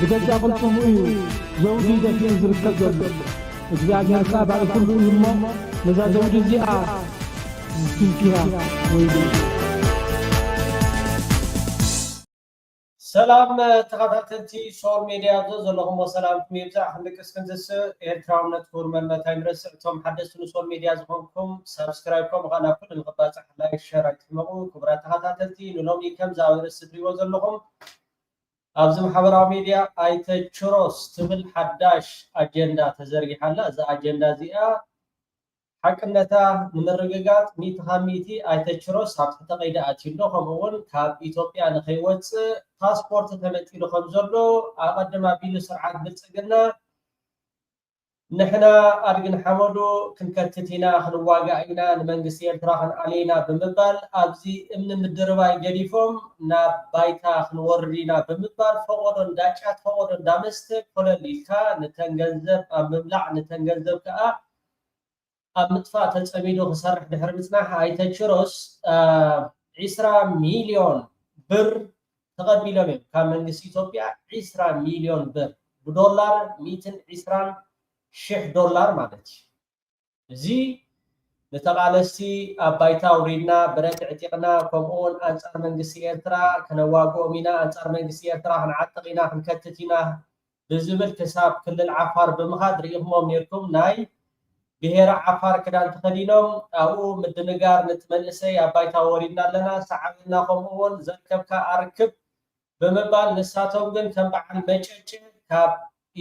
ብገዛ ቕልጥሙ እዩ ዘውዲ ደፊኡ ዝርከብ ዘሎ እግዚኣብሔር ከዓ ባሪኹም ክእሉ እሞ ነዛ ዘውዲ እዚኣ ዝትንኪያ ወይ ሰላም ተኻታተልቲ ሶል ሜድያ ኣብ ዘዘለኹሞ ሰላምኩም ይብዛሕ ክንድቅስ ክንትስእ ኤርትራውነት ክቡር መንነት ኣይንረስዕ እቶም ሓደስቲ ንሶል ሜድያ ዝኾንኩም ሳብስክራይብ ከምኡ ከኣ ናብ ኩሉ ንኽባጻሕ ላይክ ሸር ኣይትሕመቑ ክቡራት ተኻታተልቲ ንሎሚ ከምዚ ኣብ ኣርእስቲ ትሪእዎ ዘለኹም ኣብዚ ማሕበራዊ ሜድያ ኣይተ ችሮስ ትብል ሓዳሽ ኣጀንዳ ተዘርጊሓ ኣላ እዛ ኣጀንዳ እዚኣ ሓቅነታ ንምርግጋጽ ሚእቲ ካብ ሚእቲ ኣይተ ኪሮስ ኣብ ትሕቲ ቀይዲ ኣትዩ ኣሎ ከምኡ'ውን ካብ ኢትዮጵያ ንከይወጽእ ፓስፖርት ተነጺሉ ከምዘሎ ኣቐድም ኣቢሉ ስርዓት ብልጽግና ንሕና ኣድጊ ንሓመዱ ክንከትት ኢና፣ ክንዋጋእ ኢና፣ ንመንግስቲ ኤርትራ ክንኣሊ ኢና ብምባል ኣብዚ እምኒ ምድርባይ ገዲፎም ናብ ባይታ ክንወርድ ኢና ብምባል ፈቖዶ እንዳ ጫት ፈቖዶ እንዳ መስተ ኮለል ኢልካ ንተን ገንዘብ ኣብ ምብላዕ ንተን ገንዘብ ከኣ ኣብ ምጥፋእ ተፀሚዱ ክሰርሕ ድሕሪ ምፅናሕ ኣይተ ኪሮስ ዕስራ ሚልዮን ብር ተቐቢሎም እዮም። ካብ መንግስቲ ኢትዮጵያ ዕስራ ሚልዮን ብር፣ ብዶላር ሚእትን ዕስራን ሽሕ ዶላር ማለት እዩ። እዚ ንተቓለስቲ ኣብ ባይታ ኣውሪድና፣ ብረት ኣዕጢቕና፣ ከምኡውን ኣንፃር መንግስቲ ኤርትራ ክነዋግኦም ኢና፣ ኣንፃር መንግስቲ ኤርትራ ክንዓጥቕ ኢና፣ ክንከትት ኢና ብዝብል ክሳብ ክልል ዓፋር ብምኻድ ርኢኽሞም ኔርኩም ናይ ብሄረ ዓፋር ክዳን ተኸዲኖም ኣብኡ ምድንጋር ንቲ መንእሰይ ኣብ ባይታ ወሪድና ኣለና ሰዓበና ከምኡ ውን ዘርከብካ ኣርክብ ብምባል ንሳቶም ግን ከም በዓል መጨጨ ካብ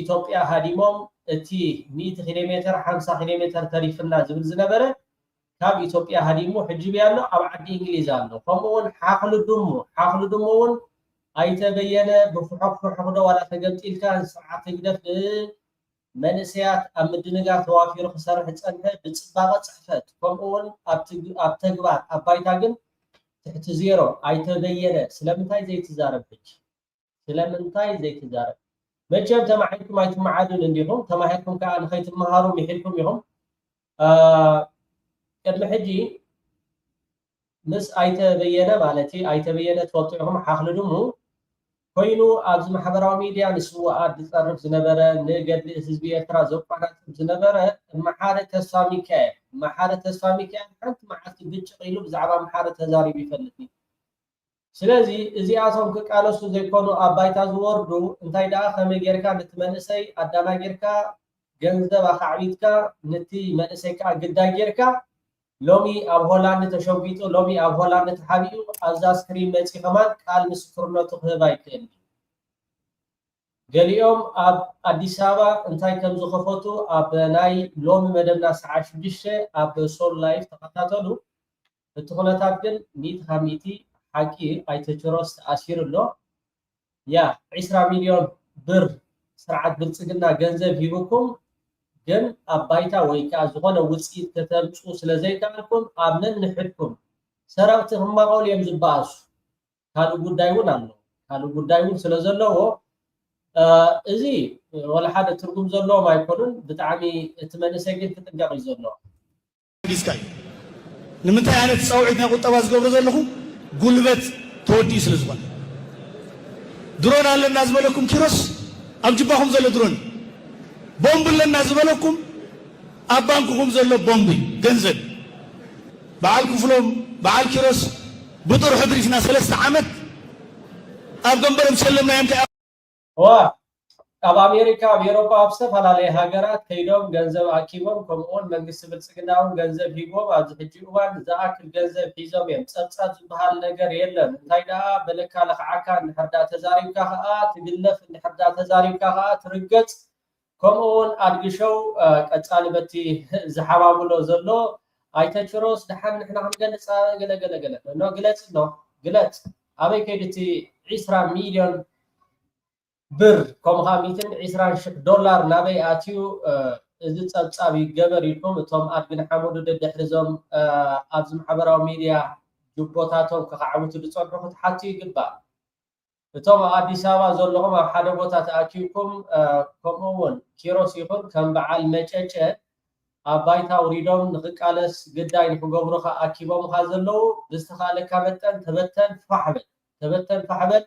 ኢትዮጵያ ሃዲሞም እቲ ሚእቲ ኪሎሜተር ሓምሳ ኪሎሜተር ተሪፍና ዝብል ዝነበረ ካብ ኢትዮጵያ ሃዲሙ ሕጂ በይ ኣሎ ኣብ ዓዲ እንግሊዝ ኣሎ ከምኡ ውን ሓኽሊ ድሙ ሓኽሊ ድሙ ውን ኣይተ በየነ ብፍሑኽ ፍሑኽ ዶ ዋላ ተገምጢልካ ንስርዓት ህግደፍ ብ መንእሰያት ኣብ ምድንጋር ተዋፊሩ ክሰርሕ ዝጸንሐ ብጽባቐ ጽሕፈት ከምኡ ውን ኣብ ተግባር ኣብ ባይታ ግን ትሕቲ ዜሮ ኣይተ በየነ ስለምንታይ ዘይትዛረብ ሕጂ ስለምንታይ ዘይትዛረብ? መቸም ተማሒርኩም ኣይትመዓዱን እንዲኹም፣ ተማሂርኩም ከኣ ንኸይትመሃሩ ምሒልኩም ኢኹም። ቅድሚ ሕጂ ምስ ኣይተ በየነ ማለት ኣይተ በየነ ትፈልጡ ኢኹም ሓኽሊ ድሙ ኮይኑ ኣብዚ ማሕበራዊ ሚድያ ንስዋኣት ዝፀርፍ ዝነበረ ንገድሊ ህዝቢ ኤርትራ ዘቋናፅብ ዝነበረ እመሓረ ተስፋ ሚካኤል እመሓረ ተስፋ ሚካኤል ሓንቲ መዓልቲ ብጭቕ ኢሉ ብዛዕባ ኣምሓረ ተዛሪቡ ይፈልጥ ስለዚ እዚኣቶም ክቃለሱ ዘይኮኑ ኣብ ባይታ ዝወርዱ እንታይ ደኣ ከመይ ጌርካ ንቲ መንእሰይ ኣዳናጊርካ ገንዘብ ኣኻዕቢትካ ንቲ መንእሰይ ከኣ ግዳይ ጌርካ ሎሚ ኣብ ሆላንድ ተሸጒጡ ሎሚ ኣብ ሆላንድ ተሓቢኡ ኣብዛ ስክሪን መጺኡ ከማን ቃል ምስክርነቱ ክህብ ኣይክእልን እዩ። ገሊኦም ኣብ ኣዲስ ኣበባ እንታይ ከም ዝኸፈቱ ኣብ ናይ ሎሚ መደብና ሰዓት ሽዱሽተ ኣብ ሶል ላይፍ ተኸታተሉ። እቲ ኩነታት ግን ሚእቲ ካብ ሚእቲ ሓቂ እዩ ኣይተ ኪሮስ ተኣሲሩ ኣሎ ያህ ዕስራ ሚልዮን ብር ስርዓት ብልፅግና ገንዘብ ሂቡኩም ግን ኣብ ባይታ ወይ ከዓ ዝኾነ ውፅኢት ከተምፅኡ ስለ ዘይከኣልኩም ኣብ ነንሕድኩም ሰረቕቲ ክማቐሉ እዮም ዝበኣሱ ካልእ ጉዳይ እውን ኣሎ ካልእ ጉዳይ እውን ስለ ዘለዎ እዚ ወላ ሓደ ትርጉም ዘለዎም ኣይኮኑን ብጣዕሚ እቲ መንእሰይ ግን ክጥንቀቕ እዩ ዘለዎ ጊዝካ እዩ ንምንታይ ኣነ ፃውዒት ናይ ቁጠባ ዝገብሮ ዘለኹ ጉልበት ተወዲኡ ስለ ዝኾነ ድሮን ኣለና ዝበለኩም ኪሮስ ኣብ ጅባኹም ዘሎ ድሮን ቦምብ ኣለና ዝበለኩም ኣብ ባንክኹም ዘሎ ቦምብ ገንዘብ በዓል ክፍሎም በዓል ኪሮስ ብጥርሑ ድሪፍና ሰለስተ ዓመት ኣብ ገንበሮም ሸለምናዮም እዋ ኣብ ኣሜሪካ ኣብ ኤሮፓ ኣብ ዝተፈላለየ ሃገራት ከይዶም ገንዘብ ኣኪቦም ከምኡውን መንግስቲ ብልጽግና እውን ገንዘብ ሂቦም ኣብዚ ሕጂ እዋን ዝኣክል ገንዘብ ሒዞም እዮም ጸብጻብ ዝበሃል ነገር የለን እንታይ ደኣ በለካ ለኽዓካ እንድሕር ደኣ ተዛሪብካ ከኣ ትግለፍ እንድሕር ደኣ ተዛሪብካ ከኣ ትርገጽ ከምኡ ውን ኣድጊ ሾው ቀጻሊ በቲ ዝሓባብሎ ዘሎ ኣይተ ኪሮስ ደሓን ንሕና ክንገልጽ ኣ ገለ ገለ ገለ እኖ ግለጽ እኖ ግለጽ ኣበይ ከይዱ እቲ ዒስራ ሚልዮን ብር ከምኡ ከኣ ሚትን ዒስራን ሽሕ ዶላር ናበይ ኣትዩ እዚ ጸብጻብ ይገበር ኢልኩም እቶም ኣድጊ ንሓመዱ ደድሕሪ እዞም ኣብዚ ማሕበራዊ ሚድያ ጅቦታቶም ከኻዕብቱ ዝጸንሑ ክትሓቱ ይግባእ። እቶም ኣብ ኣዲስ ኣበባ ዘለኹም ኣብ ሓደ ቦታ ተኣኪብኩም ከምኡ እውን ኪሮስ ይኹን ከም በዓል መጨጨ ኣብ ባይታ ኣውሪዶም ንኽቃለስ ግዳይ ንኽገብሩኻ ኣኪቦምኻ ዘለዉ ብዝተኻእለካ መጠን ተበተን ፋሕ በል ተበተን ፋሕ በል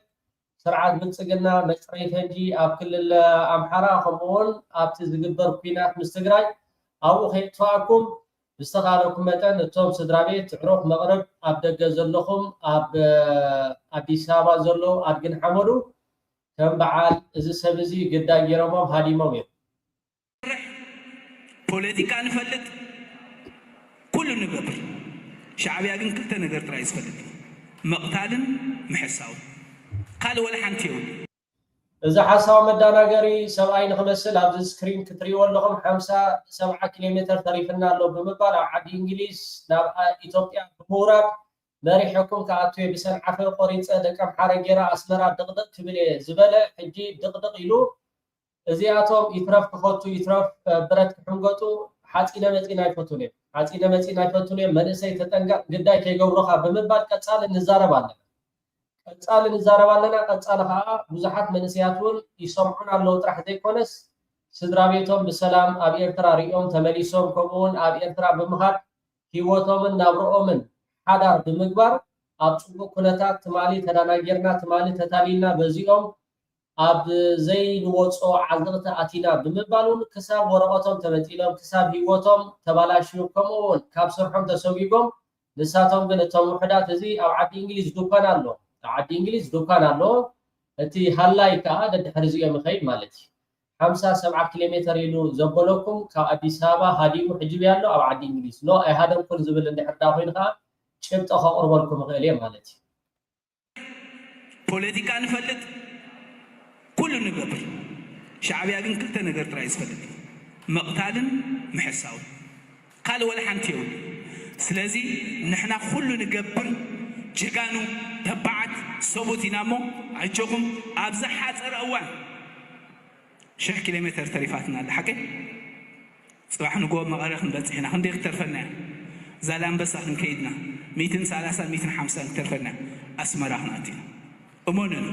ስርዓት ብልፅግና መፅረይ ፈንጂ ኣብ ክልል ኣምሓራ ከምኡ እውን ኣብቲ ዝግበር ኲናት ምስ ትግራይ ኣብኡ ከየጥፍኣኩም ብዝተኻለኩም መጠን እቶም ስድራቤት ትዕሩኽ መቕርብ ኣብ ደገ ዘለኹም ኣብ ኣዲስ ኣበባ ዘሎ ኣድግን ሓመዱ ከም በዓል እዚ ሰብ እዚ ግዳይ ጌሮሞም ሃዲሞም እዮም። ንሰርሕ ፖለቲካ ንፈልጥ ኩሉ ንገብር ሻዕብያ ግን ክልተ ነገር ጥራይ እዩ ዝፈልጥ መቕታልን ምሕሳውን ካልእ ወላ ሓንቲ የብሉን። እዚ ሓሳዊ መዳናገሪ ሰብኣይ ንክመስል ኣብዚ ስክሪን ክትሪእዎ ኣለኹም ሓምሳ ሰብዓ ኪሎሜተር ተሪፍና ኣሎ ብምባል ኣብ ዓዲ እንግሊዝ ናብ ኢትዮጵያ ብምውራድ መሪሐኩም ክኣቱየ ብሰንዓፈ ቆሪፀ ደቀምሓረ ገይረ ኣስመራ ድቕድቕ ክብል እየ ዝበለ ሕጂ ድቕድቕ ኢሉ እዚኣቶም ይትረፍ ክኸቱ ይትረፍ ብረት ክሕንገጡ ሓፂነ መፂን ኣይፈቱን እዮም። ሓፂነ መፂን ኣይፈቱን እዮም። መንእሰይ ተጠንቀቕ ግዳይ ከይገብሩኻ ብምባል ቀፃሊ ንዛረብ ኣለና። ቀፃሊ ንዛረብ ኣለና። ቀፃሊ ከዓ ብዙሓት መንእሰያት እውን ይሰምዑና ኣለዉ ጥራሕ ዘይኮነስ ስድራ ቤቶም ብሰላም ኣብ ኤርትራ ርእዮም ተመሊሶም ከምኡ እውን ኣብ ኤርትራ ብምኻድ ህይወቶምን ናብርኦምን ሓዳር ብምግባር ኣብ ፅቡቕ ኩነታት ትማሊ ተዳናጊርና ትማሊ ተታሊልና በዚኦም ኣብ ዘይንወጾ ዓዘቕቲ ኣቲና ብምባል ውን ክሳብ ወረቐቶም ተመንጢሎም፣ ክሳብ ሂወቶም ተባላሽዩ፣ ከምኡ ውን ካብ ስርሖም ተሰጉጎም፣ ንሳቶም ግን እቶም ውሑዳት እዚ ኣብ ዓዲ እንግሊዝ ዱኳን ኣሎ፣ ኣብ ዓዲ እንግሊዝ ዱኳን ኣሎ፣ እቲ ሃላይ ከኣ ደድሕሪዚ እዮ ምኸይድ ማለት እዩ፣ ሓምሳ ሰብዓ ኪሎሜተር ኢሉ ዘበሎኩም ካብ ኣዲስ ኣበባ ሃዲሙ ሕጂ ብይ ኣሎ ኣብ ዓዲ እንግሊዝ፣ ኖእ ኣይሃደምኩን ዝብል እንድሕር ደኣ ኮይኑ ከኣ ጭብጦ ከቕርበልኩም እኽእል እየ ማለት እዩ። ፖለቲካ ንፈልጥ ኩሉ ንገብር ሻዕብያ ግን ክልተ ነገር ጥራይ ዝፈልጥ መቕታልን ምሕሳውን ካልእ ወላ ሓንቲ የብሉ ስለዚ ንሕና ኩሉ ንገብር ጀጋኑ ተባዓት ሰቡት ኢና እሞ ኣጆኹም ኣብ ዝሓጸረ እዋን ሽሕ ኪሎሜተር ተሪፋትና ኣላ ሓቀይ ጽባሕ ንግሆ መቐለ ክንበጽሕ ኢና ክንደይ ክትተርፈና እያ ዛላምበሳ ክንከይድ ኢና ሚእትን ሳላሳን ሚእትን ሓምሳን ክትተርፈና እያ ኣስመራ ክንኣቱ ኢና እመኑኒ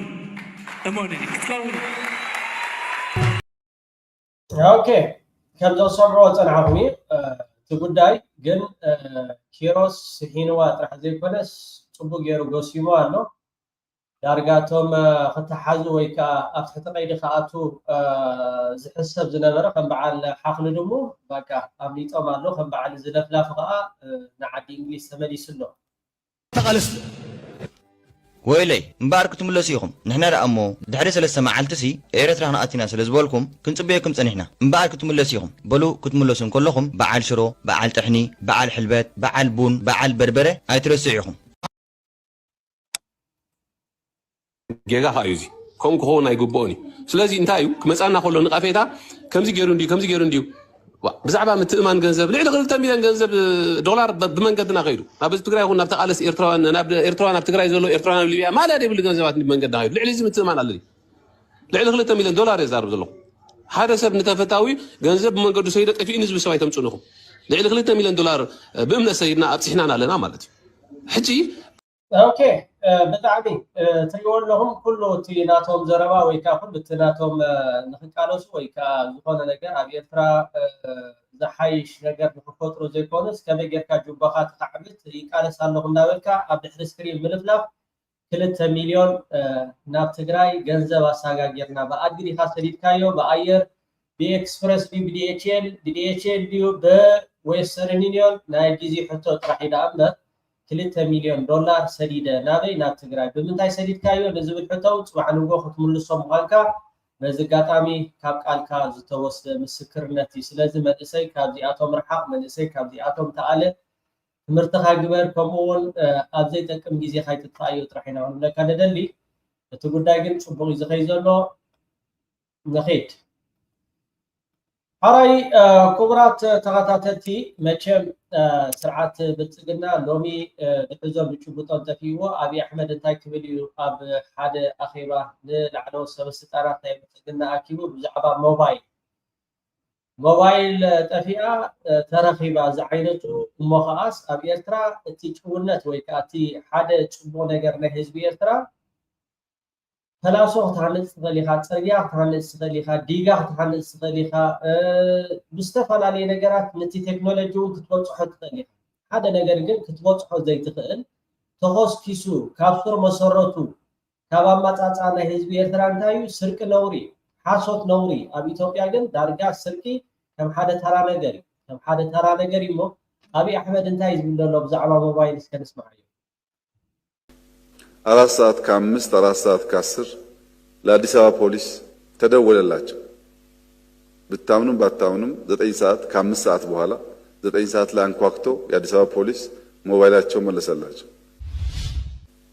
እመኑኒ ክትከውን እያ ኦኬ ከምዞ ሰምዑዎ ጸንዓኹም እቲ ጉዳይ ግን ኪሮስ ስሒንዋ ጥራሕ ዘይኮነስ ጽቡቅ ገይሩ ጎሲሞ ኣሎ ዳርጋ እቶም ክተሓዙ ወይ ከኣ ኣብ ትሕቲ ቀይዲ ክኣትዉ ዝሕሰብ ዝነበረ ከም በዓል ሓኽሉ ድሙ ባቃ ኣምሊጦም ኣሎ ከም በዓል እዚ ለፍላፊ ከኣ ንዓዲ እንግሊዝ ተመሊሱ ኣሎ። ተቓለስቲ ወይለይ እምበኣር ክትምለሱ ኢኹም ንሕና ደኣ እሞ ድሕሪ ሰለስተ መዓልቲሲ ኤረትራ ክንኣቲ ኢና ስለ ዝበልኩም ክንጽበየኩም ጸኒሕና እምበኣር ክትምለሱ ኢኹም በሉ ክትምለሱ እንከለኹም በዓል ሽሮ በዓል ጥሕኒ በዓል ሕልበት በዓል ቡን በዓል በርበረ ኣይትረስዑ ኢኹም ጌጋ ከዓ እዩ እዚ ከምኡ ክኸውን ኣይግብኦን እዩ ስለዚ እንታይ እዩ ክመፃና ከሎ ንቐፌታ ከምዚ ገይሩ እንድዩ ከምዚ ገይሩ እንድዩ ብዛዕባ ምትእማን ገንዘብ ልዕሊ ክልተ ሚሊዮን ገንዘብ ዶላር ብመንገድና ከይዱ ናብ ህዝቢ ትግራይ ይኹን ናብ ተቃለስ ኤርትራውያን ናብ ኤርትራውያን ኣብ ትግራይ ዘሎ ኤርትራውያን ኣብ ሊብያ ማልያ ዘይብሉ ገንዘባት ብመንገድና ከይዱ ልዕሊ እዚ ምትእማን ኣለኒ ልዕሊ ክልተ ሚልዮን ዶላር እየ ዛርብ ዘለኹ ሓደ ሰብ ንተፈታዊ ገንዘብ ብመንገዱ ሰይደ ጠፊኡ ንህዝቢ ሰብ ኣይተምፅኡን ኢኹም ልዕሊ ክልተ ሚልዮን ዶላር ብእምነት ሰይድና ኣብፂሕናን ኣለና ማለት እዩ ሕጂ ኦኬ ብጣዕሚ ትሪእዎ ኣለኹም ኩሉ እቲ ናቶም ዘረባ ወይ ከዓ ኩሉ እቲ ናቶም ንክቃለሱ ወይ ከዓ ዝኾነ ነገር ኣብ ኤርትራ ዝሓይሽ ነገር ንክፈጥሩ ዘይኮነስ ከመይ ጌርካ ጁባኻ ተካዕብት ይቃለስ ኣለኹ እንዳበልካ ኣብ ድሕሪ ስክሪን ምልፍላፍ ክልተ ሚልዮን ናብ ትግራይ ገንዘብ ኣሳጋጊርና ብኣድጊ ዲካ ሰዲድካዮ ብኣየር ብኤክስፕረስ ድዩ ብዲኤችኤል ብዲኤችኤል ድዩ ብዌስተርን ዩኒዮን ናይ ጊዚ ሕቶ ጥራሕ እዩ ደኣ እምበር ክልተ ሚልዮን ዶላር ሰዲደ ናበይ ናብ ትግራይ ብምንታይ ሰዲድካዮ ንዝብል ሕቶ እውን ፅባሕ ንግሆ ክትምልሶ ምኳንካ በዚ ኣጋጣሚ ካብ ቃልካ ዝተወስደ ምስክርነት እዩ ስለዚ መንእሰይ ካብዚኣቶም ርሓቅ መንእሰይ ካብዚኣቶም ተኣለ ትምህርትኻ ግበር ከምኡ ውን ኣብ ዘይጠቅም ግዜ ካይትጥፋኣዮ ጥራሕ ኢና ክንብለካ ንደሊ እቲ ጉዳይ ግን ጽቡቅ እዩ ዝኸይ ዘሎ ንኺድ ሓራይ ክቡራት ተኸታተልቲ መቸም ስርዓት ብልጽግና ሎሚ ድሕዞ ንጭቡጦን ተፊእዎ ኣብይ ኣሕመድ እንታይ ክብል እዩ ኣብ ሓደ ኣኼባ ንላዕለዎት ሰበስልጣናት ናይ ብልጽግና ኣኪቡ ብዛዕባ ሞባይል ሞባይል ጠፊኣ ተረኺባ ዝዓይነቱ እሞ ኸኣስ ኣብ ኤርትራ እቲ ጭውነት ወይ ከኣ እቲ ሓደ ጽቡቕ ነገር ናይ ህዝቢ ኤርትራ ፐላሶ ክትሃንጽ ትኽእል ኢኻ፣ ጽርግያ ክትሃንጽ ትኽእል ኢኻ፣ ዲጋ ክትሃንጽ ትኽእል ኢኻ፣ ብዝተፈላለየ ነገራት ነቲ ቴክኖሎጂ እውን ክትበጽሖ ትኽእል ኢኻ። ሓደ ነገር ግን ክትበጽሖ ዘይትኽእል ተኾስኪሱ ካብ ሱር መሰረቱ ካብ ኣማጻጽኣ ናይ ህዝቢ ኤርትራ እንታይ እዩ ስርቂ ነውሪ እዩ ሓሶት ነውሪ እዩ ኣብ ኢትዮጵያ ግን ዳርጋ ስርቂ ከም ሓደ ተራ ነገር እዩ ከም ሓደ ተራ ነገር እዩ እሞ ኣብይ ኣሕመድ እንታይ እዩ ዝብል ዘሎ ብዛዕባ ሞባይል እስከ ንስምዓዮ። ኣራት ሰዓት ከኣምስት ኣራት ሰዓት ከኣስር ለኣዲስ ኣበባ ፖሊስ ተደወለላቸው ብታምኑም ባታምኑም ዘጠኝ ሰዓት ከኣምስት ሰዓት በኋላ ዘጠኝ ሰዓት ላይ ኣንኳክቶ የኣዲስ ኣበባ ፖሊስ ሞባይላቸው መለሰላቸው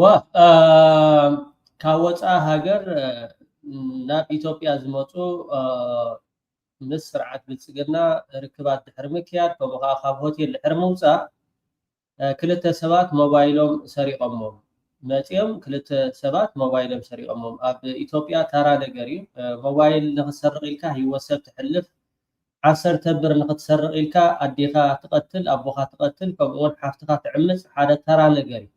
ዋእ ካብ ወፃኢ ሃገር ናብ ኢትዮጵያ ዝመፁ ምስ ስርዓት ብልፅግና ርክባት ድሕሪ ምክያድ ከምኡ ከዓ ካብ ሆቴል ድሕሪ ምውፃእ ክልተ ሰባት ሞባይሎም ሰሪቖሞም መፂኦም ክልተ ሰባት ሞባይሎም ሰሪቖሞም ኣብ ኢትዮጵያ ተራ ነገር እዩ ሞባይል ንክሰርቕ ኢልካ ህይወት ሰብ ትሕልፍ ዓሰርተ ብር ንክትሰርቅ ኢልካ ኣዴካ ትቀትል ኣቦካ ትቀትል ከምኡ ውን ሓፍትካ ትዕምጽ ሓደ ተራ ነገር እዩ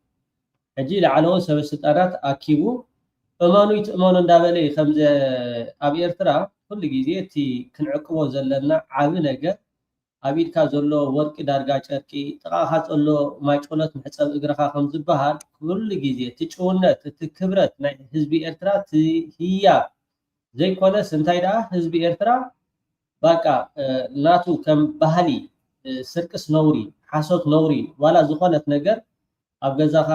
ሕጂ ላዕለዎት ሰበስልጣናት ኣኪቡ እመኑይ ትእመኑ እንዳበለ እዩ ከምዚ ኣብ ኤርትራ ኩሉ ግዜ እቲ ክንዕቅቦ ዘለና ዓቢ ነገር ኣብ ኢድካ ዘሎ ወርቂ ዳርጋ ጨርቂ ጥቃካ ጸሎ ማይጨሎት ምሕጸብ እግርካ ከምዝበሃል ኩሉ ግዜ እቲ ጭውነት እቲ ክብረት ናይ ህዝቢ ኤርትራ እቲ ህያብ ዘይኮነስ እንታይ ደኣ ህዝቢ ኤርትራ ባቃ ናቱ ከም ባህሊ ስርቅስ ነውሪ ሓሶት ነውሪ ዋላ ዝኾነት ነገር ኣብ ገዛኻ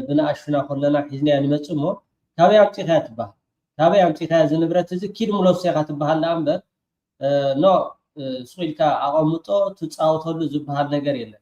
ብንኣሽቱና ኮለና ሒዝናያ ንመጽእ እሞ ካበይ ኣምጺኻያ ትበሃል ካበይ ኣምጺኻያ እዚ ንብረት እዚ ኪድ ምሎሰ ኢኻ ትበሃል ደኣ እምበር ኖእ ሱቅ ኢልካ ኣቀምጦ ትጻወተሉ ዝበሃል ነገር የለን።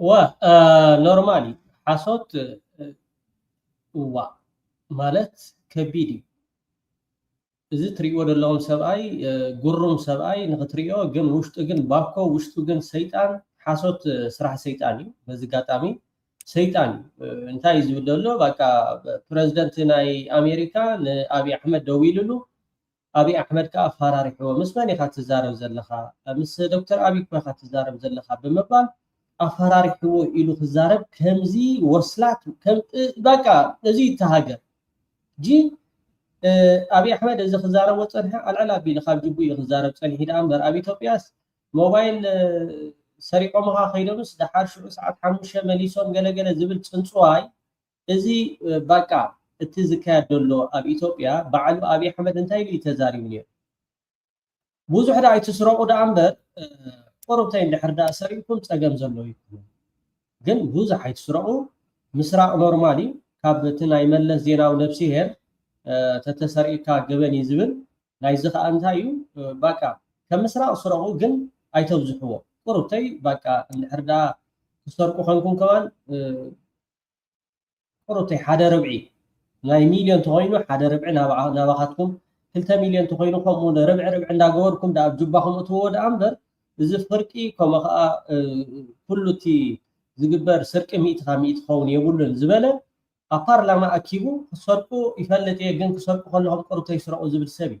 እዋ ኖርማል እዩ ሓሶት እዋ ማለት ከቢድ እዩ እዚ ትሪእዎ ዘለኹም ሰብኣይ ጉሩም ሰብኣይ ንክትሪኦ ግን ውሽጡ ግን ባኮ ውሽጡ ግን ሰይጣን ሓሶት ስራሕ ሰይጣን እዩ በዚ ኣጋጣሚ ሰይጣን እዩ እንታይ እዩ ዝብል ዘሎ በቃ ፕረዚደንት ናይ ኣሜሪካ ንኣብዪ ኣሕመድ ደዊሉሉ ኣብይ ኣሕመድ ከኣ ኣፋራሪሕዎ ምስ መን ኢኻ ትዛረብ ዘለኻ ምስ ዶክተር ኣብይ እኮ ኢኻ ትዛረብ ዘለኻ ብምባል ኣፋራሪሕዎ ኢሉ ክዛረብ ከምዚ ወስላት ከም በቃ እዚ እዩ ተሃገር ጂ ኣብይ ኣሕመድ እዚ ክዛረቦ ጸንሐ ኣልዕል ኣቢሉ ካብ ጅቡ እዩ ክዛረብ ጸኒሑ ደኣ እምበር ኣብ ኢትዮጵያስ ሞባይል ሰሪቆምኻ ከይዶምስ ደሓር ሽዑ ሰዓት ሓሙሽተ መሊሶም ገለገለ ዝብል ጽንጽዋይ እዚ ባቃ እቲ ዝካየድ ዘሎ ኣብ ኢትዮጵያ ባዕሉ ኣብይ ኣሕመድ እንታይ ኢሉ እዩ ተዛሪቡ ነይሩ ብዙሕ ዳኣ ኣይትስረቁ ዳኣ እምበር ቁሩብተይ እንድሕር ዳኣ ሰሪቅኩም ጸገም ዘሎ ይኩኑ ግን ብዙሕ ኣይትስረቁ ምስራቅ ኖርማል እዩ ካብ እቲ ናይ መለስ ዜናዊ ነብሲሄር ተተሰሪቅካ ገበን እዩ ዝብል ናይዚ ከኣ እንታይ እዩ ባቃ ከም ምስራቅ ስረቁ ግን ኣይተብዝሕዎ ቁሩብተይ ባቃ እንድሕር ዳኣ ትሰርቁ ኮንኩም ከማን ቁሩብ ሓደ ርብዒ ናይ ሚልዮን ተኾይኑ ሓደ ርብዒ ናባኻትኩም ክልተ ሚልዮን ተኾይኑ ከምኡ ርብዒ ርብዒ እንዳገበርኩም ደኣ ኣብ ጁባኹም እትዎ ደኣ እምበር እዚ ፍርቂ ከምኡ ከዓ ኩሉ እቲ ዝግበር ስርቂ ሚእትኻ ሚእቲ ክኸውን የብሉን ዝበለ ኣብ ፓርላማ ኣኪቡ ክሰርቁ ይፈልጥ እየ ግን ክሰርቁ ከለኹም ቁሩብ ተይስረቁ ዝብል ሰብ እዩ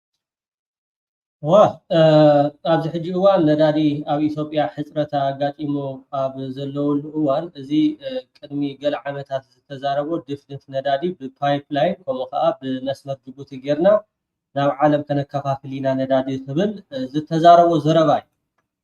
ኣብዚ ሕጂ እዋን ነዳዲ ኣብ ኢትዮጵያ ሕፅረት ኣጋጢሙ ኣብ ዘለወሉ እዋን እዚ ቅድሚ ገለ ዓመታት ዝተዛረቦ ድፍድፍ ነዳዲ ብፓይፕላይን ከምኡ ከዓ ብመስመር ጅቡቲ ጌርና ናብ ዓለም ከነከፋፍል ኢና ነዳዲ ክብል ዝተዛረቦ ዘረባ እዩ።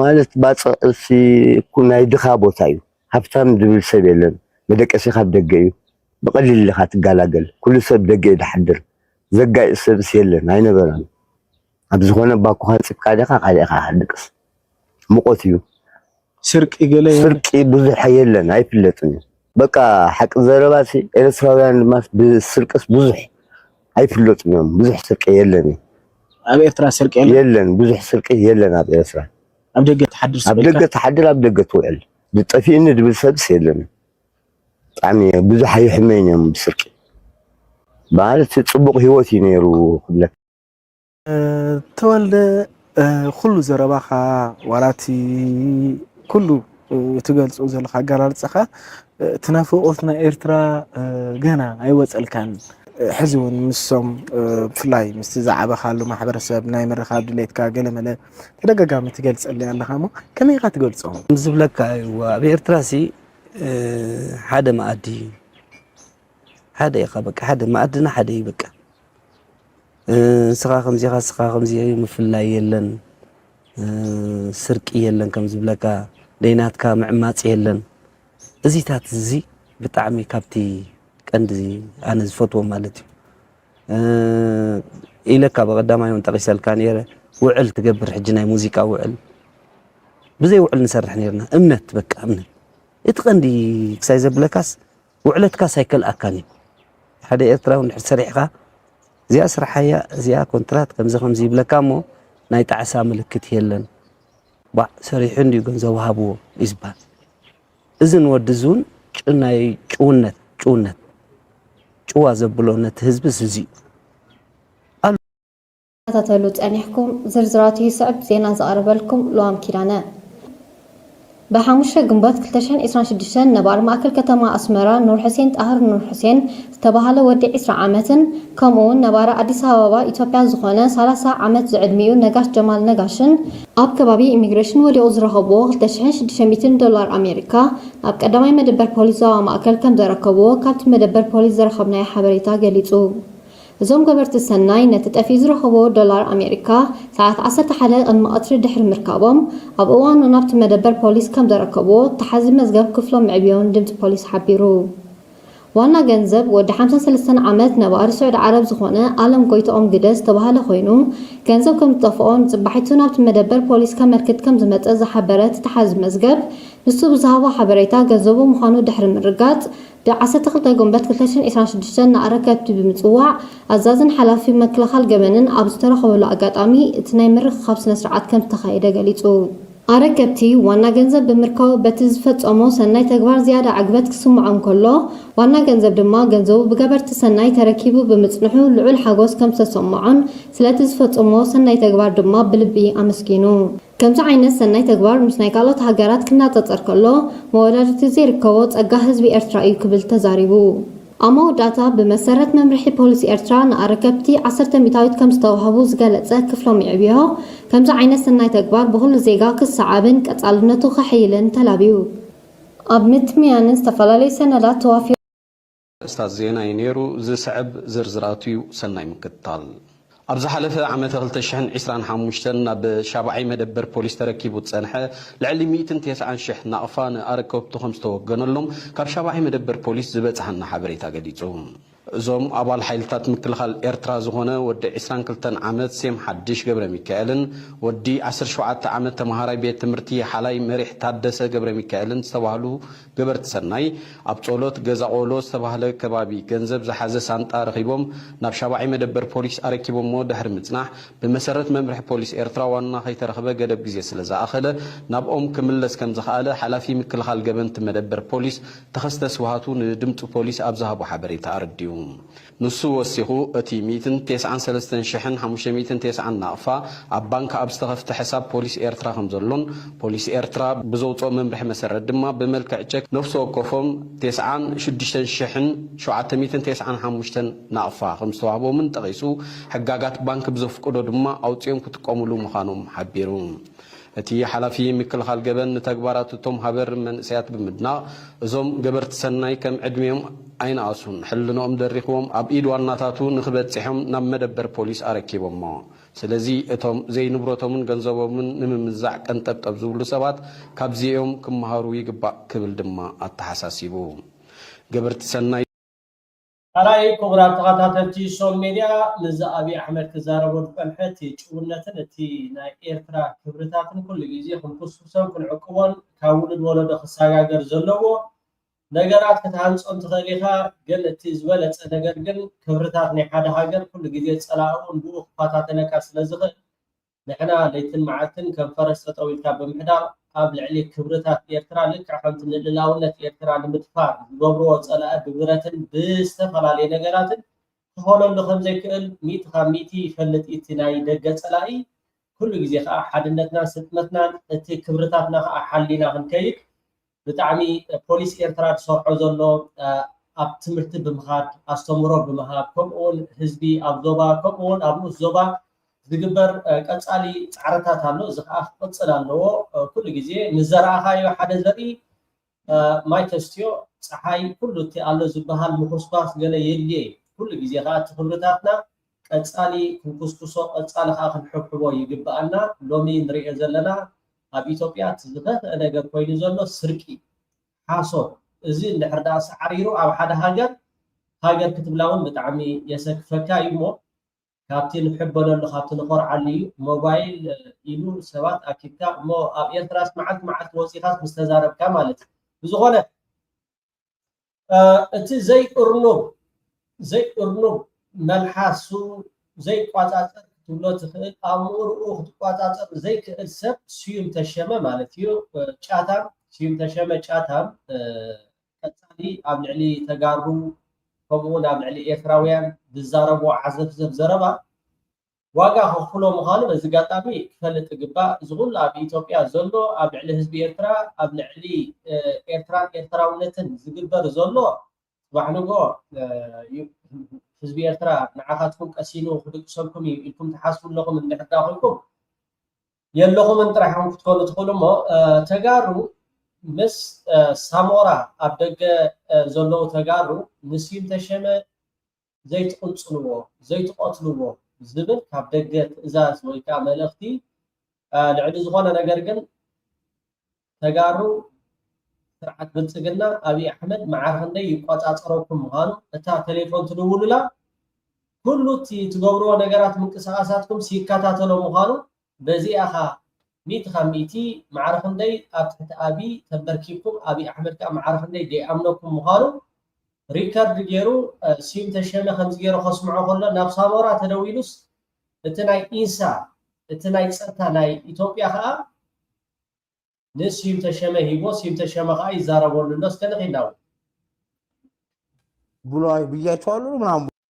ማለት ባፅዕ እሲ ናይ ድኻ ቦታ እዩ። ሃብታም ዝብል ሰብ የለን። መደቀሲ ካብ ደገ እዩ። ብቐሊል ኢኻ ትጋላገል። ኩሉ ሰብ ደገ እዩ ዝሓድር። ዘጋይፅ ሰብስ የለን፣ ኣይነበረን። ኣብ ዝኾነ ባኮኻ ጽብካ ደኻ ካልእ ኢኻ ሓድቅስ ሙቆት እዩ ስርቂ ገለ ስርቂ ብዙሕ የለን ኣይፍለጥን በቃ ሓቂ ዘረባ ሲ ኤርትራውያን ድማ ብስርቅስ ብዙሕ ኣይፍለጥን እዮም ብዙሕ ስርቂ የለን እዩ ኣብ ኤርትራ ስርቂ የለን የለን ብዙሕ ስርቂ የለን ኣብ ኤርትራ ኣብ ደገ ትሓድር ኣብ ደገ ትሓድር ኣብ ደገ ትውዕል ዝጠፊእኒ ድብል ሰብስ የለን ብጣዕሚ ብዙሕ ኣይሕመይን እዮም ብስርቂ ማለት ጽቡቕ ህይወት እዩ ነይሩ ክብለካ ተወልደ ኩሉ ዘረባኻ ዋላ እቲ ኩሉ እትገልጾ ዘለኻ ኣገላልጻኻ እቲ ናፍቖት ናይ ኤርትራ ገና ኣይወጸልካን። ሕዚ እውን ምስም ብፍላይ ምስ ዝዓበኻሉ ማሕበረሰብ ናይ ምርኻብ ድሌትካ ገለመለ ተደጋጋሚ ትገልጸለይ ኣለኻ እሞ ከመይ ኢኻ ትገልጾ? ዝብለካ እዩ ኣብ ኤርትራ ሲ ሓደ መኣዲ ሓደ ኢኻ በቃ ሓደ መኣድና ሓደ እዩ በቃ ንስኻ ከምዚ ኢኻ ንስኻ ከምዚ ኢኻ ምፍላይ የለን ስርቂ የለን ከም ዝብለካ ደይናትካ ምዕማጽ የለን እዚታት እዚ ብጣዕሚ ካብቲ ቀንዲ ኣነ ዝፈትዎ ማለት እዩ ኢለካ ብቀዳማይ እውን ጠቂሰልካ ነይረ ውዕል ትገብር ሕጂ ናይ ሙዚቃ ውዕል ብዘይ ውዕል ንሰርሕ ነርና እምነት በቃ እምነት እቲ ቀንዲ ክሳይ ዘብለካስ ውዕለትካስ ኣይከልኣካን እዩ ሓደ ኤርትራዊ እንድሕር ሰሪሕኻ እዚኣ ስርሓያ እዚኣ ኮንትራት ከምዚ ከምዚ ይብለካ እሞ ናይ ጣዕሳ ምልክት የለን ባእ ሰሪሑ እንድዩ ገንዘቡ ሃብዎ እዩ ዝበሃል እዚ ንወዲ እዚ እውን ጭ ናይ ጭውነት ጭውነት ጭዋ ዘብሎ ነቲ ህዝብስ እዚ እዩ ክትከታተሉ ጸኒሕኩም ዝርዝራቱ ይስዕብ ዜና ዘቕርበልኩም ሉዋም ኪዳነ ብ ሓሙሽተ ግንቦት ክልተ ሽሕን ዒስራን ሽዱሽተን ነባሪ ማእከል ከተማ ኣስመራ ኑርሑሴን ጣህር ኑርሑሴን ዝተባህለ ወዲ ዒስራ ዓመትን ከምኡ ውን ነባሪ ኣዲስ ኣበባ ኢትዮጵያ ዝኾነ ሰላሳ ዓመት ዝዕድሚኡ ነጋሽ ጀማል ነጋሽን ኣብ ከባቢ ኢሚግሬሽን ወዲቑ ዝረኸብዎ ክልተ ሽሕን ሽዱሽተ ሚእትን ዶላር ኣሜሪካ ናብ ቀዳማይ መደበር ፖሊስ ዞባ ማእከል ከምዘረከብዎ ካብቲ መደበር ፖሊስ ዝረኸብናዮ ሓበሬታ ገሊጹ። እዞም ገበርቲ ሰናይ ነቲ ጠፊኡ ዝረኸቦ ዶላር ኣሜሪካ ሰዓት ዓሰርተ ሓደ ቅድሚ ቀትሪ ድሕሪ ምርካቦም ኣብ እዋኑ ናብቲ መደበር ፖሊስ ከምዘረከብዎ ተሓዚ መዝገብ ክፍሎም መዕብዮ ንድምጺ ፖሊስ ሓቢሩ። ዋና ገንዘብ ወዲ ሓምሳን ሰለስተን ዓመት ነባሪ ሱዕዲ ዓረብ ዝኾነ ኣለም ጎይትኦም ግደ ዝተባህለ ኮይኑ ገንዘብ ከምዝጠፍኦ ንጽባሒቱ ናብቲ መደበር ፖሊስ ከመልክት ከምዝመጸ ዝሓበረ እቲ ተሓዚ መዝገብ ንሱ ብዝሃቦ ሓበሬታ ገንዘቡ ምዃኑ ድሕሪ ምርጋጽ ብ ዓሰርተ ክልተ ጉንበት ክልተ ሽሕን ዒስራን ሽዱሽተን ንኣረከብቲ ብምጽዋዕ፣ ኣዛዝን ሓላፊ መክለኻል ገበንን ኣብ ዝተረኸበሉ ኣጋጣሚ እቲ ናይ ምርኽኻብ ስነ-ስርዓት ከም ዝተኻየደ ገሊጹ። ኣረከብቲ፣ ዋና ገንዘብ ብምርካቡ በቲ ዝፈጸሞ ሰናይ ተግባር ዝያዳ ዕግበት ክስምዖ እንከሎ፣ ዋና ገንዘብ ድማ ገንዘቡ ብገበርቲ ሰናይ ተረኪቡ ብምጽንሑ ልዑል ሓጎስ ከም ዝተሰምዖን ስለቲ ዝፈጸምዎ ሰናይ ተግባር ድማ ብልቢ ኣመስጊኑ። ከምዚ ዓይነት ሰናይ ተግባር ምስ ናይ ካልኦት ሃገራት ክናጸጸር ከሎ መወዳድርቲ ዘይርከቦ ጸጋ ህዝቢ ኤርትራ እዩ ክብል ተዛሪቡ። ኣብ መወዳእታ ብመሰረት መምርሒ ፖሊሲ ኤርትራ ንኣረከብቲ ዓሰርተ ሚታዊት ከምዝተዋህቡ ዝገለጸ ክፍሎም ይዕብዮ ከምዚ ዓይነት ሰናይ ተግባር ብኹሉ ዜጋ ክሰዓብን ቀጻልነቱ ከሕይልን ተላብዩ። ኣብ ምትምያንን ዝተፈላለዩ ሰነዳት ተዋፊሩ። ኣርእስታት ዜና እዩ ነይሩ። ዝስዕብ ዝርዝር ኣትዩ። ሰናይ ምክትታል። ኣብ ዝሓለፈ ዓመተ ክልተ ሽሕን ዕስራን ሓሙሽተን ናብ ሻብዓይ መደበር ፖሊስ ተረኪቡ ዝጸንሐ ልዕሊ ሚእትን ቴስዓን ሽሕ ናቕፋ ንኣረከብቱ ከምዝተወገነሎም ካብ ሻብዓይ መደበር ፖሊስ ዝበጽሓና ሓበሬታ ገሊጹ። እዞም ኣባል ሓይልታት ምክልኻል ኤርትራ ዝኾነ ወዲ ዕስራን ክልተን ዓመት ሴም ሓድሽ ገብረሚካኤልን ወዲ ዓሰርተ ሸውዓተ ዓመት ተመሃራይ ቤት ትምህርቲ ሓላይ መሪሕ ታደሰ ገብረሚካኤልን ዝተባህሉ ገበርቲ ሰናይ ኣብ ጾሎት ገዛ ቆሎ ዝተባህለ ከባቢ ገንዘብ ዝሓዘ ሳንጣ ረኺቦም ናብ ሻባዒ መደበር ፖሊስ ኣረኪቦሞ ድሕሪ ምጽናሕ ብመሰረት መምርሒ ፖሊስ ኤርትራ ዋና ከይተረኽበ ገደብ ግዜ ስለዝኣኸለ ናብኦም ክምለስ ከምዝኸኣለ ሓላፊ ምክልኻል ገበንቲ መደበር ፖሊስ ተኸስተ ስብሃቱ ንድምጺ ፖሊስ ኣብ ዝሃቦ ሓበሬታ ኣረዲኡ። ንሱ ወሲኹ፣ እቲ ሚእትን ቴስዓን ሰለስተን ሽሕን ሓሙሽተ ሚእትን ቴስዓን ናቕፋ ኣብ ባንክ ኣብ ዝተኸፍተ ሕሳብ ፖሊስ ኤርትራ ከምዘሎን፣ ፖሊስ ኤርትራ ብዘውጽኦ መምርሒ መሰረት ድማ ብመልክዕ ቸክ ነፍሰወከፎም ቴስዓን ሽዱሽተን ሽሕን ሸውዓተ ሚእትን ቴስዓን ሓሙሽተን ናቕፋ ከምዝተዋህቦምን ጠቒሱ፣ ሕጋጋት ባንክ ብዘፍቅዶ ድማ ኣውጺኦም ክጥቀሙሉ ምዃኖም ሓቢሩ። እቲ ሓላፊ ምክልኻል ገበን ንተግባራት እቶም ሃበር መንእሰያት ብምድናቕ፣ እዞም ገበርቲ ሰናይ ከም ዕድሜኦም ኣይነኣሱን፣ ሕልንኦም ደሪኽዎም ኣብ ኢድ ዋናታቱ ንክበጽሖም ናብ መደበር ፖሊስ ኣረኪቦሞ። ስለዚ እቶም ዘይንብረቶምን ገንዘቦምን ንምምንዛዕ ቀንጠብጠብ ዝብሉ ሰባት ካብዚኦም ክመሃሩ ይግባእ ክብል ድማ ኣተሓሳሲቡ። ገበርቲ ሰናይ። ካልኣይ ክቡራት ተኻታተልቲ ሶል ሜድያ ንዚ ኣብይ ኣሕመድ ክዛረቦ ድጸንሐ እቲ ጭውነትን እቲ ናይ ኤርትራ ክብርታትን ኩሉ ግዜ ክንኩስኩሶን ክንዕቅቦን ካብ ውሉድ ወለዶ ክሳጋገር ዘለዎ ነገራት ክትሃንጾም ትኽእል ኢኻ ግን እቲ ዝበለጸ ነገር ግን ክብርታት ናይ ሓደ ሃገር ኩሉ ግዜ ጸላእኡ ንብኡ ክፋታተነካ ስለ ዝኽእል ንሕና ለይትን መዓልትን ከም ፈረስ ጠጠው ኢልካ ብምሕዳር ኣብ ልዕሊ ክብርታት ኤርትራ ልክዕ ከምቲ ንልእላውነት ኤርትራ ንምድፋር ዝገብርዎ ጸላኢ ብብረትን ብዝተፈላለየ ነገራትን ክኾነሉ ከምዘይክእል ሚእቲ ካብ ሚእቲ ይፈልጥ እዩ እቲ ናይ ደገ ጸላኢ ኩሉ ግዜ ከኣ ሓድነትናን ስጥመትናን እቲ ክብርታትና ከኣ ሓሊና ክንከይድ ብጣዕሚ ፖሊስ ኤርትራ ዝሰርሖ ዘሎ ኣብ ትምህርቲ ብምኻድ ኣስተምህሮ ብምሃብ ከምኡ ውን ህዝቢ ኣብ ዞባ ከምኡ ውን ኣብ ንኡስ ዞባ ዝግበር ቀጻሊ ጻዕርታት ኣሎ እዚ ከዓ ክቕጽል ኣለዎ ኩሉ ግዜ ምስ ዘረኣኻዮ ሓደ ዘርኢ ማይ ተስትዮ ፀሓይ ኩሉ እቲ ኣሎ ዝበሃል ምኹስኳስ ገለ የድልዮ እዩ ኩሉ ግዜ ከዓ እቲ ክብርታትና ቀጻሊ ክንኩስኩሶ ቀጻሊ ከዓ ክንሕብሕቦ ይግበኣና ሎሚ ንሪኦ ዘለና ኣብ ኢትዮጵያ እቲ ዝኸፍኣ ነገር ኮይኑ ዘሎ ስርቂ፣ ሓሶት፣ እዚ እንድሕር ድኣ ሳዕሪሩ ኣብ ሓደ ሃገር ሃገር ክትብላ ውን ብጣዕሚ የሰክፈካ እዩ እሞ ካብቲ ንሕበነሉ ካብቲ ንኾርዓሉ እዩ ሞባይል ኢሉ ሰባት ኣኪብካ እሞ ኣብ ኤርትራስ መዓልቲ መዓልቲ ወጺኻስ ምስ ተዛረብካ ማለት እዩ ብዝኾነ እቲ ዘይእርኑብ ዘይእርኑብ መልሓሱ ዘይቋጻጸር ክትብሎ ትኽእል ኣእምርኡ ክትቋጻጸር ዘይክእል ሰብ ስዩም ተሸመ ማለት እዩ። ጫታም ስዩም ተሸመ ጫታም ቀጻሊ ኣብ ልዕሊ ተጋሩ ከምኡውን ኣብ ልዕሊ ኤርትራውያን ዝዛረቦ ዓዘፍዘፍ ዘረባ ዋጋ ከኽፍሎ ምዃኑ በዚ ኣጋጣሚ ክፈልጥ ይግባእ። እዚ ኩሉ ኣብ ኢትዮጵያ ዘሎ ኣብ ልዕሊ ህዝቢ ኤርትራ ኣብ ልዕሊ ኤርትራን ኤርትራውነትን ዝግበር ዘሎ ጽባሕ ንግሆ ህዝቢ ኤርትራ ንዓኻትኩም ቀሲኑ ክድቅሰልኩም እዩ ኢልኩም ትሓስቡ ኣለኹም እንድሕር ዳ ኮንኩም የለኹምን ጥራሕ ኢኹም ክትኮኑ ትኽእሉ እሞ ተጋሩ ምስ ሳሞራ ኣብ ደገ ዘለዉ ተጋሩ ንስዩም ተሸመ ዘይትቕንጽልዎ፣ ዘይትቐትልዎ ዝብል ካብ ደገ ትእዛዝ ወይ ከኣ መልእኽቲ ልዕሊ ዝኾነ ነገር ግን ተጋሩ ስርዓት ብልጽግና ኣብይ ኣሕመድ መዓር ክንደይ ይቆጻጸረኩም ምዃኑ እታ ቴሌፎን ትድውሉላ ኩሉ እቲ ትገብርዎ ነገራት ምንቅስቓሳትኩምስ ይከታተሎ ምዃኑ በዚ ኣኻ ሚእቲ ካብ ሚእቲ ማዕረ ክንደይ ኣብ ትሕቲ ኣቢ ተምበርኪኩም ኣቢ ኣሕመድ ከኣ ማዕረ ክንደይ ደይኣምነኩም ምዃኑ ሪከርድ ጌሩ ስዩም ተሸነ ከምዚ ጌሩ ከስምዖ ከሎ ናብ ሳሞራ ተደዊሉስ እቲ ናይ ኢንሳ እቲ ናይ ጸጥታ ናይ ኢትዮጵያ ከኣ ንስዩም ተሸመ ሂቦ ስዩም ተሸመ ከኣ ይዛረበሉ ኣሎ እስከ ንኺናው ብሎ ብያቸዋሉ ምናምን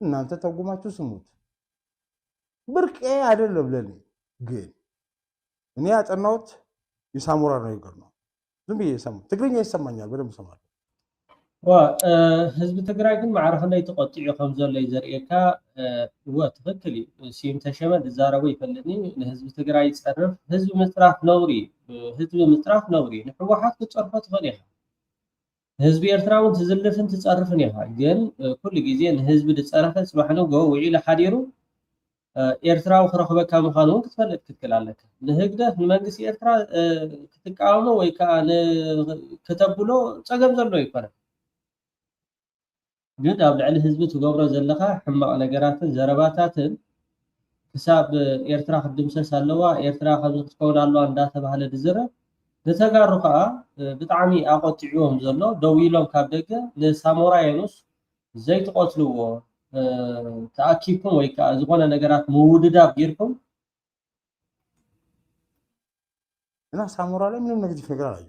እናንተ ተርጉማችሁ ስሙት። ብርቄ አይደለም ለኔ ግን እኔ ያጠናሁት የሳሞራ ነገር ነው። ዝም ብዬ ሰማ ትግርኛ ይሰማኛል፣ በደንብ እሰማለሁ። ህዝቢ ትግራይ ግን ማዕረ ክንደይ ተቆጢዑ ከም ዘሎ እዩ ዘርእየካ። እወ ትኽክል እዩ። ስዩም ተሸመ ዝዛረቦ ይፈልጥኒ ንህዝቢ ትግራይ ይፀርፍ። ህዝቢ ምፅራፍ ነውሪ እዩ። ህዝቢ ምፅራፍ ነውሪ እዩ። ንሕወሓት ክትፀርፎ ትኽእል ኢኻ ንህዝቢ ኤርትራ ውን ትዝልፍን ትጸርፍን ኢኻ ግን ኩሉ ግዜ ንህዝቢ ድጸረፈ ጽባሕ ንግሆ ውዒሉ ሓዲሩ ኤርትራዊ ክረኽበካ ምዃኑ ውን ክትፈልጥ ክትክል ኣለካ ንህግደፍ ንመንግስቲ ኤርትራ ክትቃወሞ ወይ ከኣ ከተብሎ ጸገም ዘሎ ኣይኮነን ግን ኣብ ልዕሊ ህዝቢ ትገብሮ ዘለኻ ሕማቕ ነገራትን ዘረባታትን ክሳብ ኤርትራ ክትድምሰስ ኣለዋ ኤርትራ ከምዚ ክትከውን ኣለዋ እንዳተባህለ ዝዝረብ ንተጋሩ ከኣ ብጣዕሚ ኣቖጢዕዎም ዘሎ ደው ኢሎም ካብ ደገ ንሳሞራ የኑስ ዘይትቐትልዎ ተኣኪብኩም ወይ ከዓ ዝኾነ ነገራት ምውድዳብ ጌርኩም እና ሳሞራ ላይ ምንም ነገር ይነግራል አዩ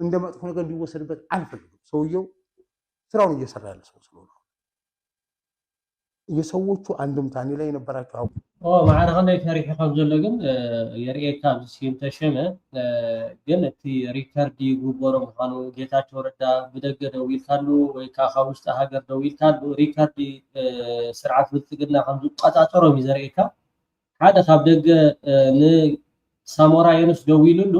እንደ መጥፎ ነገር እንዲወሰድበት አልፈልግም። ሰውየው ስራውን እየሰራ ያለ ሰው ስለሆነ የሰዎቹ አንድምታ እኔ ላይ የነበራቸው አው ማዕረ ከመይ ፈሪሑ ከም ዘሎ ግን የርእየካ ኣብዚ ስዩም ተሸመ ግን እቲ ሪከርድ ይግበሮ ምዃኑ ጌታቸው ረዳ ብደገ ደው ኢልካሉ ወይ ከዓ ካብ ውሽጢ ሃገር ደው ኢልካሉ ሪከርድ ስርዓት ብልፅግና ከም ዝቆፃፀሮም እዩ ዘርእየካ ሓደ ካብ ደገ ንሳሞራ የኑስ ደው ኢሉሉ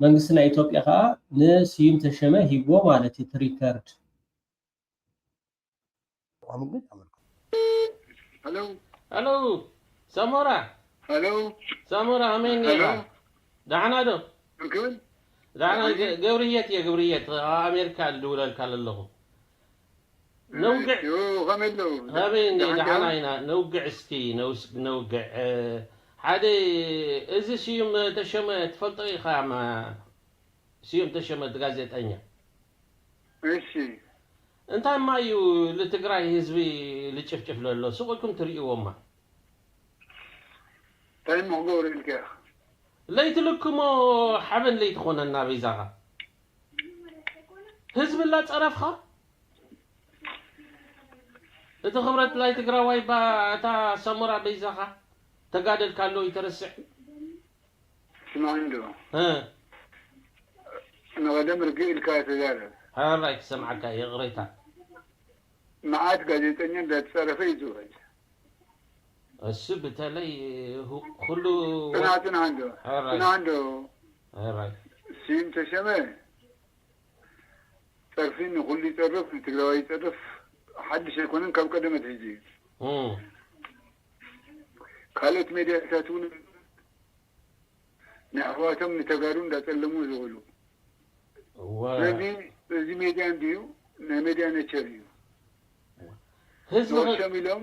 መንግስቲ ናይ ኢትዮጵያ ከኣ ንስዩም ተሸመ ሂብዎ ማለት እዩ እቲ ሪከርድ። ምዃኑ ግን ኣመልከቱ። Hello ሳሞራ ሳሞራ ከመይ እኒኤኻ ዳሕና ዶ ዳሕና ገብርየት እየ ግብርየት ኣብ ኣሜሪካ እየ ዝድውለልካ ለለኹ። ነውግዕ ዩ ከመይ ኣለዉ ከመይ እንዴ ደሓን ድዮም ደሓና ኢና ነውግዕ እስኪ ነውስ ነውግዕ ሓደ እዚ ስዩም ተሾመ ትፈልጦ ኢኻ ም ስዩም ተሾመ እቲ ጋዜጠኛ እሺ እንታይ እማ እዩ ልትግራይ ህዝቢ ልጭፍጭፍ ለሎ ሱቅ ኢልኩም ትሪእዎ እማ ታይ እሞ ክገብሩ ኢልካ ኢኻ ለይትልክሞ ሓበን ለይትኾነና በይዛኻ። ህዝቢ እናፀረፍኻ እቲ ክብረት ናይ ትግራዋይ እታ ሳሞራ በይዛኻ ተጋደል ካሎ እዩ ተረስዕ ስማዕንዶ ንቐደም ርግእ ኢልካ ተዛረብ ሕራይ ክሰምዓካ እየ ይቕሬታ መዓት ጋዜጠኛ እንዳተፀረፈ እዩ ዝውዕል እሱ ብተለይ ኩሉ ፅናዕ ፅናዕ እንዶ ፅናዕ እንዶ ኣራይ። ስዩም ተሸመ ጸርፊ ንኹሉ ይጸርፍ ንትግራዋይ ይጸርፍ ሓድሽ ኣይኮነን ካብ ቀደም ኣትሒዙ እዩ። ካልኦት ሜድያታት እውን ንኣሕዋቶም ንተጋሩ እንዳጸለሙ ዝውዕሉ ስለዚ እዚ ሜድያ እንድዩ ናይ ሜድያ ነቸር እዩ። ተወሸም ኢሎም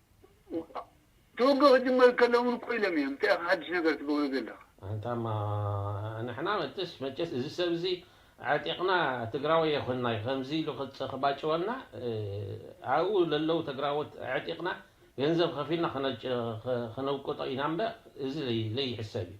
እቲ ውግእ ክጅመር ከሎ እውን እኮ ኢሎም እዮም እንታይ ኢኻ ሓድሽ ነገር ትገብሮ ዘለኻ። ኣንታ እማ ንሕና መጥስ መቸስ እዚ ሰብ እዚ ዓጢቅና ትግራወየ ኮንናዩ ከምዚ ኢሉ ክባጭወና ኣብኡ ለለው ተግራዎት ኣዕጢቅና ገንዘብ ከፊልና ከነውቅጦ ኢና እምበር እዚ ለይሕሰብ እዩ።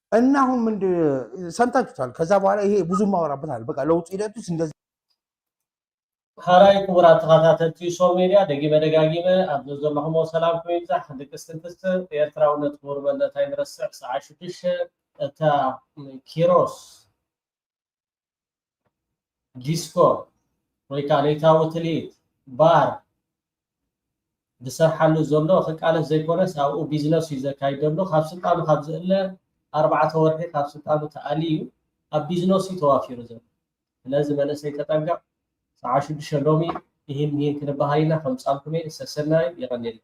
እና አሁን ምንድ ሰምታችሁታል። ከዛ በኋላ ይሄ ብዙ ማወራበት አለ። በቃ ለውጥ ሂደት ውስጥ እንደዚህ ሃራይ ክቡራት ተኸታተልቲ ሶ ሜድያ ደጊመ ደጋጊመ ኣብ ዘለኹሞ ሰላምኩም ይብዛሕ ድቅስ ትንትስት ኤርትራውነት ክቡር መንነት ኣይንረስዕ ሰዓ ሽዱሽተ እታ ኪሮስ ዲስኮ ወይ ከኣ ለይታዊ ትልሂት፣ ባር፣ ዝሰርሓሉ ዘሎ ክቃለስ ዘይኮነስ ኣብኡ ቢዝነሱ እዩ ዘካይድ ዘሎ። ካብ ስልጣኑ ካብ ዝእለ ኣርባዕተ ወርሒ ካብ ስልጣኑ ተኣልዩ እዩ ኣብ ቢዝነሱ እዩ ተዋፊሩ ዘሎ። ስለዚ መንእሰይ ተጠንቀቕ። ሰዓት ሽዱሽተ ሎሚ እሂን ምሂን ክንበሃይና ከምጻልኩሜ ሰሰናዩ የቐኔለይ።